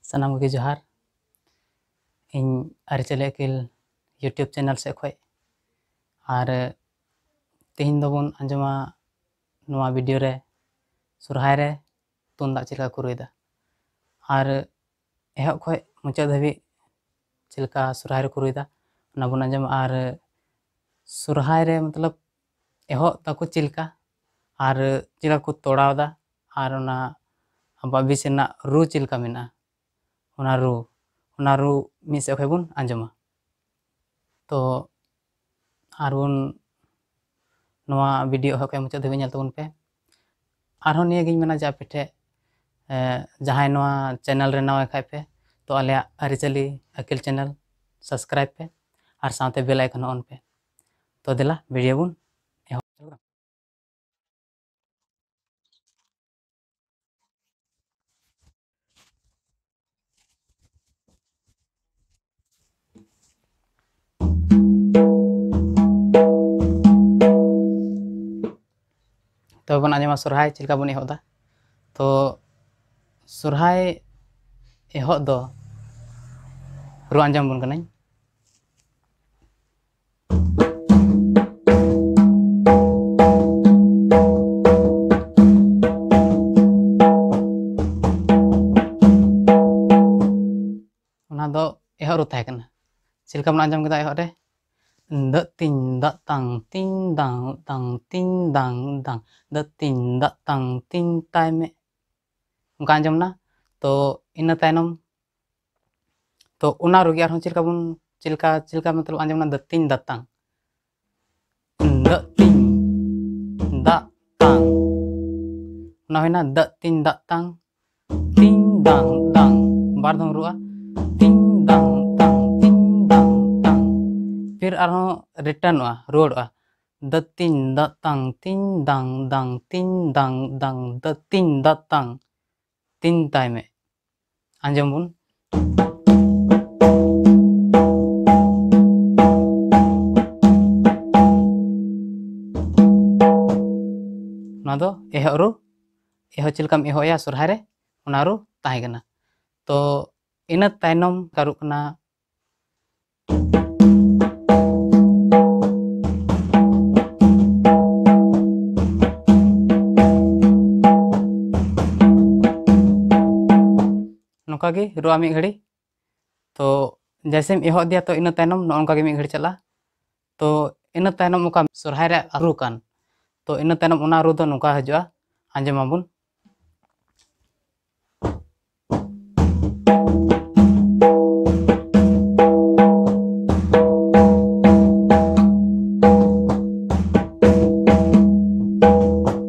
ᱥᱟᱱᱟᱢ ᱠᱚᱜᱮ ᱡᱚᱦᱟᱨ ᱤᱧ ᱟᱹᱨᱤᱪᱟᱹᱞᱤ ᱟᱹᱠᱤᱞ ᱤᱭᱩᱴᱤᱭᱩᱵᱽ ᱪᱮᱱᱮᱞ ᱥᱮᱫ ᱠᱷᱚᱱ ᱟᱨ ᱛᱮᱦᱮᱧ ᱫᱚᱵᱚᱱ ᱟᱸᱡᱚᱢᱟ ᱱᱚᱣᱟ ᱵᱷᱤᱰᱤᱭᱳ ᱨᱮ ᱥᱚᱨᱦᱟᱭ ᱨᱮ ᱛᱩᱢᱫᱟᱜ ᱪᱮᱫ ᱞᱮᱠᱟ ᱠᱚ ᱨᱩᱭᱫᱟ ᱟᱨ ᱮᱦᱚᱵ ᱠᱷᱚᱱ ᱢᱩᱪᱟᱹᱫ ᱫᱷᱟᱹᱵᱤᱡ ᱪᱮᱫ ᱞᱮᱠᱟ ᱥᱚᱨᱦᱟᱭ ᱨᱮᱠᱚ ᱨᱩᱭᱫᱟ ᱚᱱᱟ ᱵᱚᱱ ᱟᱸᱡᱚᱢᱟ ᱟᱨ ᱥᱚᱨᱦᱟᱭ ᱨᱮ ᱢᱚᱛᱞᱚᱵ ᱮᱦᱚᱵ ᱛᱟᱠᱚ ᱪᱮᱫ ᱞᱮᱠᱟ ᱟᱨ ᱪᱮᱫ ᱞᱮᱠᱟ ᱠᱚ ᱛᱚᱲᱟᱣ ᱮᱫᱟ ᱟᱨ ᱚᱱᱟ ᱟᱵᱚᱣᱟᱜ ᱵᱤᱥ ᱨᱮᱱᱟᱜ ᱨᱩ ᱪᱮᱫ ᱞᱮᱠᱟ ᱢᱮᱱᱟᱜᱼᱟ ᱚᱱᱟ ᱨᱩ ᱚᱱᱟ ᱨᱩ ᱢᱤᱫ ᱥᱮᱫ ᱠᱷᱚᱱ ᱵᱚᱱ ᱟᱸᱡᱚᱢᱟ ᱛᱚ ᱟᱨ ᱵᱚᱱ ᱱᱚᱣᱟ ᱵᱷᱤᱰᱤᱭᱳ ᱮᱦᱚᱵ ᱠᱷᱚᱱ ᱢᱩᱪᱟᱹᱫ ᱫᱷᱟᱹᱵᱤᱡ ᱧᱮᱞ ᱛᱟᱵᱚᱱ ᱯᱮ ᱟᱨᱦᱚᱸ ᱱᱤᱭᱟᱹᱜᱤᱧ ᱢᱮᱱᱟ ᱡᱮ ᱟᱯᱮ ᱴᱷᱮᱱ ᱡᱟᱦᱟᱸᱭ ᱱᱚᱣᱟ ᱪᱮᱱᱮᱞ ᱨᱮ ᱱᱟᱣᱟ ᱠᱷᱟᱡ ᱯᱮ ᱛᱚ ᱟᱞᱮᱭᱟᱜ ᱟᱹᱨᱤᱪᱟᱹᱞᱤ ᱟᱹᱠᱤᱞ ᱪᱮᱱᱮᱞ ᱥᱟᱵᱥᱠᱨᱟᱭᱤᱵᱽ ᱯᱮ ᱟᱨ ᱥᱟᱶᱛᱮ ᱵᱮᱞ ᱟᱭᱠᱚᱱ ᱦᱚᱸ ᱚᱱ ᱯᱮ ᱛᱚ ᱫᱮᱞᱟ ᱵᱷᱤᱰᱤᱭᱳ ᱵᱚᱱ ᱮᱦᱚᱵ ᱛᱚᱵᱮ ᱵᱚᱱ ᱟᱸᱡᱚᱢᱟ ᱥᱚᱨᱦᱟᱭ ᱪᱮᱫ ᱞᱮᱠᱟ ᱵᱚᱱ ᱮᱦᱚᱵ ᱮᱫᱟ ᱛᱚ ᱥᱚᱨᱦᱟᱭ ᱮᱦᱚᱵ ᱫᱚ ᱨᱩ ᱟᱸᱡᱚᱢ ᱵᱚᱱ ᱠᱟᱹᱱᱟᱹᱧ ᱚᱱᱟ ᱫᱚ ᱮᱦᱚᱵ ᱨᱩ ᱛᱟᱦᱮᱸ ᱠᱟᱱᱟ ᱪᱮᱫ ᱞᱮᱠᱟ ᱵᱚᱱ ᱟᱸᱡᱚᱢ ᱠᱮᱫᱟ ᱮᱦᱚᱵ ᱨᱮ ᱫᱟᱜ ᱛᱤᱧ ᱫᱟᱜ ᱛᱟᱝ ᱛᱤᱧ ᱫᱟᱝ ᱛᱟᱝ ᱛᱤᱧ ᱫᱟᱝ ᱫᱟᱝ ᱫᱟᱜ ᱛᱤᱧ ᱫᱟᱜ ᱛᱟᱝ ᱛᱤᱧ ᱛᱟᱭ ᱢᱮ ᱚᱱᱠᱟ ᱟᱸᱡᱚᱢ ᱮᱱᱟ ᱛᱚ ᱤᱱᱟᱹ ᱛᱟᱭᱱᱚᱢ ᱛᱚ ᱚᱱᱟ ᱨᱮᱜᱮ ᱟᱨᱦᱚᱸ ᱪᱮᱫ ᱞᱮᱠᱟ ᱵᱚᱱ ᱪᱮᱫ ᱞᱮᱠᱟ ᱪᱮᱫ ᱞᱮᱠᱟ ᱢᱚᱛᱞᱚᱵ ᱟᱸᱡᱚᱢ ᱮᱱᱟ ᱫᱟᱹᱛᱤᱧ ᱫᱟᱛᱟᱝ ᱫᱟᱹᱛᱤᱧ ᱫᱟᱜ ᱛᱟᱝ ᱚᱱᱟ ᱦᱩᱭᱱᱟ ᱫᱟᱹᱛᱤᱧ ᱫᱟᱜ ᱛᱟᱝ ᱛᱤᱧ ᱫᱟᱝ ᱫᱟᱝ ᱵᱟᱨ ᱫᱷᱟᱣ ᱨᱩᱜᱼᱟ ᱛᱤᱧ ᱫᱟᱝ ᱫᱟᱝ ᱛᱤᱧ ᱫᱟᱝ ᱫᱟᱝ ᱯᱷᱤᱨ ᱟᱨᱦᱚᱸ ᱨᱤᱴᱟᱨᱱᱚᱜᱼᱟ ᱨᱩᱣᱟᱹᱲᱚᱜᱼᱟ ᱫᱟᱹᱛᱤᱧ ᱫᱟᱜ ᱛᱟᱝ ᱛᱤᱧ ᱫᱟᱝ ᱫᱟᱝ ᱛᱤᱧ ᱫᱟᱝ ᱫᱟᱝ ᱫᱟᱹᱛᱤᱧ ᱫᱟᱜ ᱛᱟᱝ ᱛᱤᱱ ᱛᱟᱭ ᱢᱮ ᱟᱸᱡᱚᱢ ᱵᱚᱱ ᱱᱚᱣᱟ ᱫᱚ ᱮᱦᱚᱵ ᱨᱩ ᱮᱦᱚᱵ ᱪᱮᱫ ᱞᱮᱠᱟᱢ ᱮᱦᱚᱵᱮᱜᱼᱟ ᱥᱚᱨᱦᱟᱭ ᱨᱮ ᱚᱱᱟ ᱨᱩ ᱛᱟᱦᱮᱸ ᱠᱟᱱᱟ ᱛᱚ ᱤᱱᱟᱹ ᱛᱟᱭᱱᱚᱢ ᱠᱟᱨᱩᱜ ᱠᱟᱱᱟ ᱱᱚᱝᱠᱟ ᱜᱮ ᱨᱚᱜᱼᱟ ᱢᱤᱫ ᱜᱷᱟᱹᱲᱤ ᱛᱚ ᱡᱮᱭᱥᱮᱢ ᱮᱦᱚᱵ ᱤᱫᱤᱭᱟ ᱛᱚ ᱤᱱᱟᱹ ᱛᱟᱭᱱᱚᱢ ᱱᱚᱜᱼᱚ ᱱᱚᱝᱠᱟ ᱜᱮ ᱢᱤᱫ ᱜᱷᱟᱹᱲᱤ ᱪᱟᱞᱟᱜᱼᱟ ᱛᱚ ᱤᱱᱟᱹ ᱛᱟᱭᱱᱚᱢ ᱚᱠᱟ ᱥᱚᱨᱦᱟᱭ ᱨᱮ ᱨᱩ ᱠᱟᱱ ᱛᱚ ᱤᱱᱟᱹ ᱛᱟᱭᱱᱚᱢ ᱚᱱᱟ ᱨᱩ ᱫᱚ ᱱᱚᱝᱠᱟ ᱦᱤᱡᱩᱜᱼᱟ ᱟᱸᱡᱚᱢᱟᱵᱚᱱ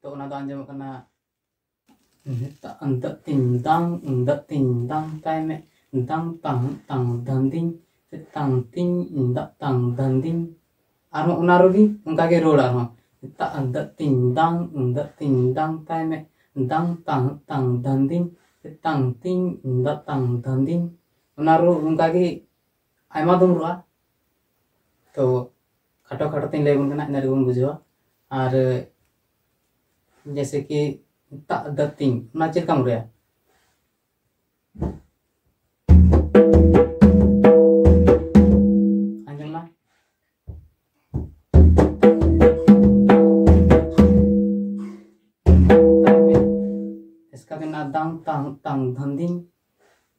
ᱛᱚ ᱚᱱᱟ ᱫᱚ ᱟᱸᱡᱚᱢᱚᱜ ᱠᱟᱱᱟ ᱫᱟᱜ ᱛᱤᱧ ᱫᱟᱝ ᱫᱟᱜ ᱛᱤᱧ ᱫᱟᱝ ᱛᱟᱭ ᱢᱮ ᱫᱟᱝ ᱛᱟᱝ ᱛᱟᱝ ᱫᱟᱱᱫᱤᱧ ᱥᱮ ᱛᱟᱝ ᱛᱤᱧ ᱫᱟᱜ ᱛᱟᱝ ᱫᱟᱱᱫᱤᱧ ᱟᱨᱦᱚᱸ ᱚᱱᱟ ᱨᱮᱜᱮ ᱚᱱᱠᱟᱜᱮ ᱨᱚᱲ ᱟᱨᱦᱚᱸ ᱫᱟᱜ ᱫᱟᱜ ᱛᱤᱧ ᱫᱟᱝ ᱫᱟᱜ ᱛᱤᱧ ᱫᱟᱝ ᱛᱟᱭ ᱢᱮ ᱫᱟᱝ ᱛᱟᱝ ᱛᱟᱝ ᱫᱟᱱᱫᱤᱧ ᱥᱮ ᱛᱟᱝ ᱛᱤᱧ ᱫᱟᱜ ᱛᱟᱝ ᱫᱟᱱᱫᱤᱧ ᱚᱱᱟ ᱨᱚᱲ ᱚᱱᱠᱟᱜᱮ ᱟᱭᱢᱟ ᱫᱚᱢ ᱨᱚᱲᱟ ᱛᱚ ᱠᱷᱟᱴᱚ ᱠᱷᱟᱴᱚ ᱛᱮᱧ ᱞᱟᱹᱭ ᱟᱵᱚᱱ ᱠᱟᱱᱟ ᱤᱱᱟᱹ ᱨᱮᱜᱮ ᱵᱚᱱ ᱵᱩᱡᱷᱟᱹᱣᱟ ᱟᱨ ᱡᱮᱭᱥᱮ ᱠᱤ ᱛᱟᱜ ᱫᱟ ᱛᱤᱧ ᱚᱱᱟ ᱪᱮᱫ ᱞᱮᱠᱟᱢ ᱨᱩᱭᱟ ᱫᱟᱝ ᱛᱟᱝ ᱛᱟᱝ ᱫᱷᱟᱱᱫᱤᱧ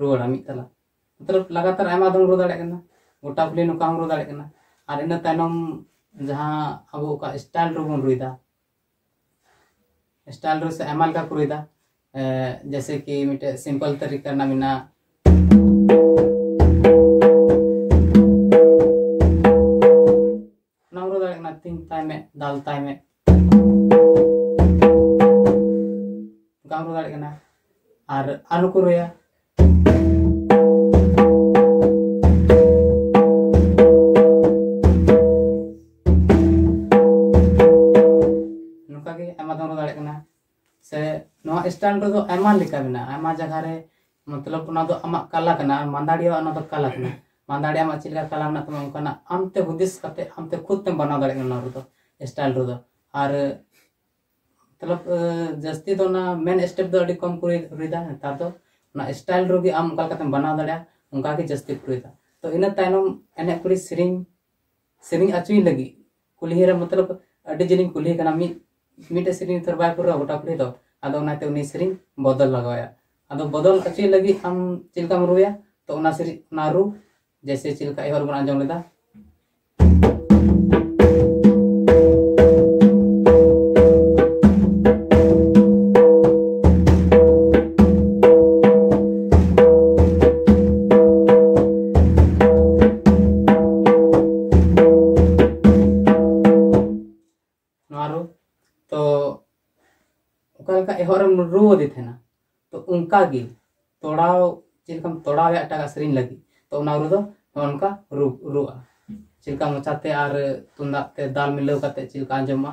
ᱨᱩᱣᱟᱹᱲᱟ ᱢᱤᱫ ᱛᱟᱞᱟ ᱢᱚᱛᱞᱚᱵ ᱞᱟᱜᱟᱛᱟᱨ ᱟᱭᱢᱟ ᱫᱚᱢ ᱨᱩ ᱫᱟᱲᱮᱭᱟᱜ ᱠᱟᱱᱟ ᱜᱚᱴᱟ ᱠᱩᱞᱦᱤ ᱱᱚᱝᱠᱟ ᱦᱚᱸᱢ ᱨᱩ ᱫᱟᱲᱮᱭᱟᱜ ᱠᱟᱱᱟ ᱟᱨ ᱤᱱᱟᱹ ᱛᱟᱭᱱᱚᱢ ᱡᱟᱦᱟᱸ ᱟᱵᱚ ᱚᱠᱟ ᱥᱴᱟᱭᱤᱞ ᱨᱮᱵᱚᱱ ᱨᱩᱭᱫᱟ ᱥᱴᱟᱭᱤᱞ ᱨᱮ ᱥᱮ ᱟᱭᱢᱟ ᱞᱮᱠᱟ ᱠᱚ ᱨᱩᱭᱫᱟ ᱡᱮᱭᱥᱮ ᱠᱤ ᱢᱤᱫᱴᱮᱡ ᱥᱤᱢᱯᱚᱞ ᱛᱟᱹᱨᱤᱠᱟ ᱨᱮᱱᱟᱜ ᱢᱮᱱᱟᱜᱼᱟ ᱚᱱᱟᱢ ᱨᱩ ᱫᱟᱲᱮᱭᱟᱜ ᱠᱟᱱᱟ ᱛᱤᱱ ᱛᱟᱭ ᱢᱮ ᱫᱟᱞ ᱛᱟᱭ ᱢᱮ ᱚᱱᱠᱟᱢ ᱨᱩ ᱫᱟᱲᱮᱭᱟᱜ ᱠᱟᱱᱟ ᱟᱨ ᱟᱨ ᱱᱩᱠᱩ ᱨᱩᱭᱟ ᱥᱮ ᱱᱚᱣᱟ ᱥᱴᱟᱱ ᱨᱮᱫᱚ ᱟᱭᱢᱟ ᱞᱮᱠᱟ ᱢᱮᱱᱟᱜᱼᱟ ᱟᱭᱢᱟ ᱡᱟᱭᱜᱟ ᱨᱮ ᱢᱚᱛᱞᱚᱵ ᱚᱱᱟ ᱫᱚ ᱟᱢᱟᱜ ᱠᱟᱞᱟ ᱠᱟᱱᱟ ᱟᱨ ᱢᱟᱱᱫᱟᱲᱤᱭᱟ ᱚᱱᱟ ᱫᱚ ᱠᱟᱞᱟ ᱠᱟᱱᱟ ᱢᱟᱱᱫᱟᱲᱤᱭᱟ ᱟᱢᱟᱜ ᱪᱮᱫ ᱞᱮᱠᱟ ᱠᱟᱞᱟ ᱢᱮᱱᱟᱜ ᱛᱟᱢᱟ ᱚᱱᱠᱟᱱᱟᱜ ᱟᱢᱛᱮ ᱦᱩᱫᱤᱥ ᱠᱟᱛᱮ ᱟᱢᱛᱮ ᱠᱷᱩᱫ ᱛᱮᱢ ᱵᱮᱱᱟᱣ ᱫᱟᱲᱮᱭᱟᱜ ᱠᱟᱱᱟ ᱱᱚᱣᱟ ᱨᱮᱫᱚ ᱥᱴᱟᱭᱤᱞ ᱨᱮᱫᱚ ᱟᱨ ᱢᱚᱛᱞᱚᱵ ᱡᱟᱹᱥᱛᱤ ᱫᱚ ᱚᱱᱟ ᱢᱮᱱ ᱥᱴᱮᱯ ᱫᱚ ᱟᱹᱰᱤ ᱠᱚᱢ ᱠᱚ ᱨᱩᱭᱫᱟ ᱱᱮᱛᱟᱨ ᱫᱚ ᱚᱱᱟ ᱥᱴᱟᱭᱤᱞ ᱨᱮᱜᱮ ᱟᱢ ᱚᱠᱟ ᱞᱮᱠᱟᱛᱮᱢ ᱵᱮᱱᱟᱣ ᱫᱟᱲᱮᱭᱟᱜᱼᱟ ᱚᱱᱠᱟᱜᱮ ᱡᱟᱹᱥᱛᱤ ᱠᱚ ᱨᱩᱭᱫᱟ ᱛᱚ ᱤᱱᱟᱹ ᱛᱟᱭᱱᱚᱢ ᱮᱱᱮᱡ ᱠᱩᱲᱤ ᱥᱮᱨᱮᱧ ᱥᱮᱨᱮᱧ ᱟᱪᱩᱭ ᱞᱟᱹᱜᱤᱫ ᱠᱩᱞᱦᱤ ᱨᱮ ᱢᱚᱛᱞᱚᱵ ᱟᱹᱰᱤ ᱡᱤᱞᱤᱧ ᱠᱩᱞᱦᱤ ᱠᱟᱱᱟ ᱢᱤᱫ ᱢᱤᱫᱴᱮᱡ ᱥᱮᱨᱮᱧ ᱛᱚ ᱵᱟᱭ ᱯᱩᱨᱟᱹᱣᱟ ᱜᱚᱴᱟ ᱠᱩᱞᱦᱤ ᱫᱚ ᱟᱫᱚ ᱚᱱᱟᱛᱮ ᱩᱱᱤ ᱥᱮᱨᱮᱧ ᱵᱚᱫᱚᱞ ᱞᱟᱜᱟᱣᱟᱭᱟ ᱟᱫᱚ ᱵᱚᱫᱚᱞ ᱦᱚᱪᱚᱭ ᱞᱟᱹᱜᱤᱫ ᱟᱢ ᱪᱮᱫ ᱞᱮᱠᱟᱢ ᱨᱩᱭᱟ ᱛᱚ ᱚᱱᱟ ᱥᱮᱨᱮᱧ ᱚᱱᱟ ᱨᱩ ᱡᱮᱭᱥᱮ ᱪᱮᱫ ᱞᱮᱠᱟ ᱮᱦᱚᱵ ᱵᱚᱱ ᱟᱸᱡᱚᱢ ᱞᱮᱫᱟ ᱦᱚᱨᱮᱢ ᱨᱩᱣᱟᱹᱫᱮ ᱛᱟᱦᱮᱱᱟ ᱛᱚ ᱚᱱᱠᱟ ᱜᱮ ᱛᱚᱲᱟᱣ ᱪᱮᱫ ᱞᱮᱠᱟᱢ ᱛᱚᱲᱟᱣᱮ ᱮᱴᱟᱜᱟᱜ ᱥᱮᱨᱮᱧ ᱞᱟᱹᱜᱤᱫ ᱛᱚ ᱚᱱᱟ ᱨᱩ ᱫᱚ ᱚᱱᱠᱟ ᱨᱩ ᱨᱩᱜᱼᱟ ᱪᱮᱫ ᱞᱮᱠᱟ ᱢᱚᱪᱟᱛᱮ ᱟᱨ ᱛᱩᱢᱫᱟᱜ ᱛᱮ ᱫᱟᱞ ᱢᱤᱞᱟᱹᱣ ᱠᱟᱛᱮ ᱪᱮᱫ ᱞᱮᱠᱟ ᱟᱸᱡᱚᱢᱚᱜᱼᱟ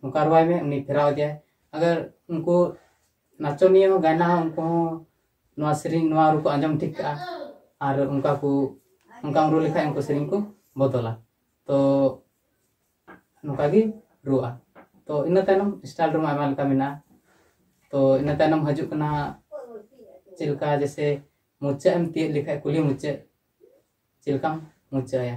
ᱱᱚᱝᱠᱟ ᱨᱚᱦᱚᱭ ᱢᱮ ᱩᱱᱤ ᱯᱷᱮᱨᱟᱣ ᱮᱫᱟᱭ ᱟᱜᱟᱨ ᱩᱱᱠᱩ ᱱᱟᱪᱚᱱᱤᱭᱟᱹ ᱦᱚᱸ ᱜᱟᱭᱱᱟ ᱦᱚᱸ ᱩᱱᱠᱩ ᱦᱚᱸ ᱱᱚᱣᱟ ᱥᱮᱨᱮᱧ ᱱᱚᱣᱟ ᱨᱩ ᱠᱚ ᱟᱸᱡᱚᱢ ᱴᱷᱤᱠ ᱠᱟᱜᱼᱟ ᱟᱨ ᱚᱱᱠᱟ ᱠᱚ ᱚᱱᱠᱟᱢ ᱨᱩ ᱞᱮᱠᱷᱟᱡ ᱩᱱᱠᱩ ᱥᱮᱨᱮᱧ ᱠᱚ ᱵᱚᱫᱚᱞᱟ ᱛᱚ ᱱᱚᱝᱠᱟ ᱜᱮ ᱨᱩᱣᱟᱹᱜᱼᱟ ᱛᱚ ᱤᱱᱟᱹ ᱛᱟᱭᱱᱚᱢ ᱥᱴᱟᱭᱤᱞ ᱨᱩᱢ ᱟᱭᱢᱟ ᱞᱮᱠᱟ ᱢᱮᱱᱟᱜᱼᱟ ᱛᱚ ᱤᱱᱟᱹ ᱛᱟᱭᱱᱚᱢ ᱦᱤᱡᱩᱜ ᱠᱟᱱᱟ ᱪᱮᱫ ᱞᱮᱠᱟ ᱡᱮᱥᱮ ᱢᱩᱪᱟᱹᱫ ᱮᱢ ᱛᱤᱭᱳᱜ ᱞᱮᱠᱷᱟᱡ ᱠᱩᱞᱦᱤ ᱢᱩᱪᱟᱹᱫ ᱪᱮᱫ ᱞᱮᱠᱟᱢ ᱢᱩᱪᱟᱹᱫ ᱟᱭᱟ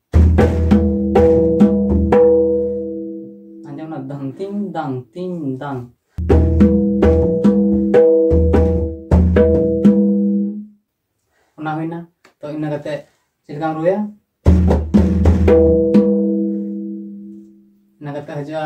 ᱟᱸᱡᱚᱢ ᱱᱟ ᱫᱟᱝ ᱛᱤᱝ ᱫᱟᱝ ᱛᱤᱝ ᱫᱟᱝ ᱚᱱᱟ ᱦᱩᱭᱱᱟ ᱛᱚ ᱤᱱᱟᱹ ᱠᱟᱛᱮ ᱪᱮᱫ ᱞᱮᱠᱟᱢ ᱨᱩᱭᱟ ᱤᱱᱟᱹ ᱠᱟᱛᱮ ᱦᱤᱡᱩᱜᱼᱟ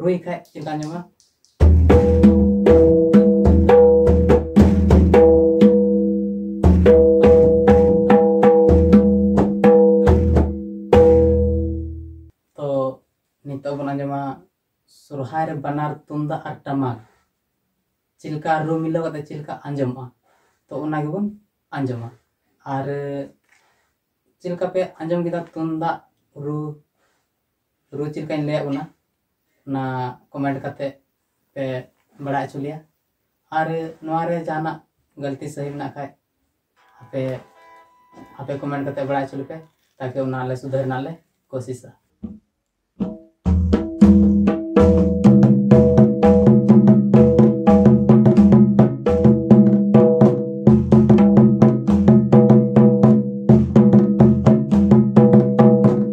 ᱨᱩᱭ ᱠᱷᱟᱡ ᱪᱮᱛᱟᱱ ᱧᱟᱢᱟ ᱛᱚ ᱱᱤᱛᱚᱜ ᱵᱚᱱ ᱟᱸᱡᱚᱢᱟ ᱥᱚᱨᱦᱟᱭ ᱨᱮ ᱵᱟᱱᱟᱨ ᱛᱩᱢᱫᱟᱜ ᱟᱨ ᱴᱟᱢᱟᱠ ᱪᱮᱫ ᱞᱮᱠᱟ ᱨᱩ ᱢᱤᱞᱟᱹᱣ ᱠᱟᱛᱮ ᱪᱮᱫ ᱞᱮᱠᱟ ᱟᱸᱡᱚᱢᱚᱜᱼᱟ ᱛᱚ ᱚᱱᱟ ᱜᱮᱵᱚᱱ ᱟᱸᱡᱚᱢᱟ ᱟᱨ ᱪᱮᱫ ᱞᱮᱠᱟ ᱯᱮ ᱟᱸᱡᱚᱢ ᱠᱮᱫᱟ ᱛᱩᱢᱫᱟᱜ ᱨᱩ ᱨᱩ ᱪᱮᱫ ᱞᱮᱠᱟᱧ ᱞᱟᱹᱭᱟᱫ ᱵᱚᱱᱟ ᱚᱱᱟ ᱠᱚᱢᱮᱱᱴ ᱠᱟᱛᱮ ᱯᱮ ᱵᱟᱲᱟᱭ ᱦᱚᱪᱚ ᱞᱮᱭᱟ ᱟᱨ ᱱᱚᱣᱟ ᱨᱮ ᱡᱟᱦᱟᱱᱟᱜ ᱜᱟᱹᱞᱛᱤ ᱥᱟᱹᱦᱤ ᱢᱮᱱᱟᱜ ᱠᱷᱟᱡ ᱟᱯᱮ ᱟᱯᱮ ᱠᱚᱢᱮᱱᱴ ᱠᱟᱛᱮ ᱵᱟᱲᱟᱭ ᱦᱚᱪᱚ ᱞᱮᱯᱮ ᱛᱟᱠᱤ ᱚᱱᱟ ᱞᱮ ᱥᱩᱫᱷᱟᱹᱨ ᱨᱮᱱᱟᱜ ᱞᱮ ᱠᱳᱥᱤᱥᱟ